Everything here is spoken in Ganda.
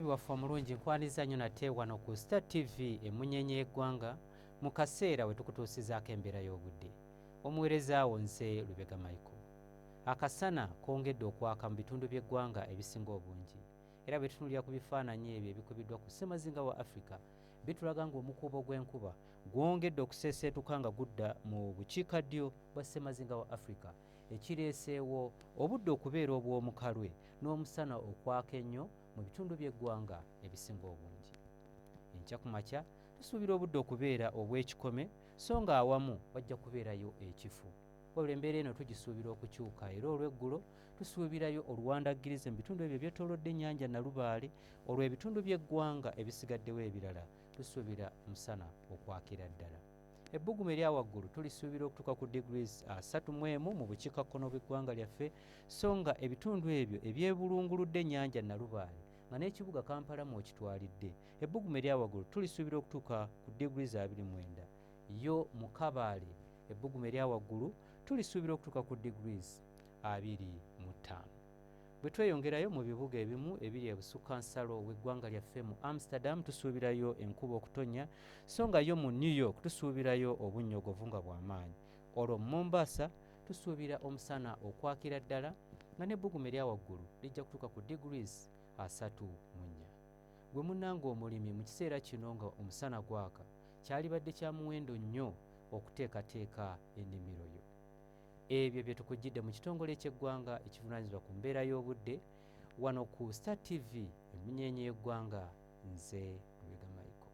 Omuyimbi waffe omulungi nkwaniza nnyo nate wano ku Star TV emunyenye y'eggwanga mu kaseera we tukutuusizaako embeera y'obudde. Omuweereza wo nze Lubega Michael. Akasana kongedde okwaka mu bitundu by'eggwanga ebisinga obungi era bwe tutunulira ku bifaananyi ebyo ebikubiddwa ku ssemazinga wa Africa bitulaga ng'omukuubo gw'enkuba gwongedde okuseeseetuka nga gudda mu bukiika ddyo bwa ssemazinga wa Africa ekireeseewo obudde okubeera obw'omukalwe n'omusana okwaka ennyo mu bitundu by'eggwanga ebisinga obungi enkya ku makya tusuubira obudde okubeera obw'ekikome so nga awamu wajja kubeerayo ekifu wabula embeera eno tugisuubira okukyuka era olw'eggulo tusuubirayo oluwandaggirize mu bitundu ebyo ebyetoolodde ennyanja nalubaale olw'ebitundu by'eggwanga ebisigaddewo ebirala tusuubira musana okwakira ddala Ebbugumu erya waggulu tulisuubira okutuuka ku degrees asatu mu emu mu bukiikakkono bw'eggwanga lyaffe so nga ebitundu ebyo ebyebulunguludde ennyanja Nalubaale nga n'ekibuga Kampala mw'okitwalidde ebbugumu erya waggulu tulisuubira okutuuka ku degrees abiri mu enda yo mu Kabaale ebbugumu erya waggulu tulisuubira okutuuka ku degrees abiri mu ttaano. Bwe tweyongerayo mu bibuga ebimu ebiri ebusukka nsalo w'eggwanga lyaffe mu Amsterdam tusuubirayo enkuba okutonnya so nga yo mu New York tusuubirayo obunnyogovu nga bwa maanyi. Olwo mu Mombasa tusuubira omusana okwakira ddala nga n'ebbugumu erya waggulu lijja kutuuka ku degrees asatu mu nnya. Gwe munnange omulimi mu kiseera kino nga omusana gwaka kyalibadde kya muwendo nnyo okuteekateeka ennimiro yo. Ebyo bye tukujjidde mu kitongole ky'eggwanga ekivunaanyizibwa ku mbeera y'obudde wano ku Star TV emmunyeenye y'eggwanga nze Lubega Michael.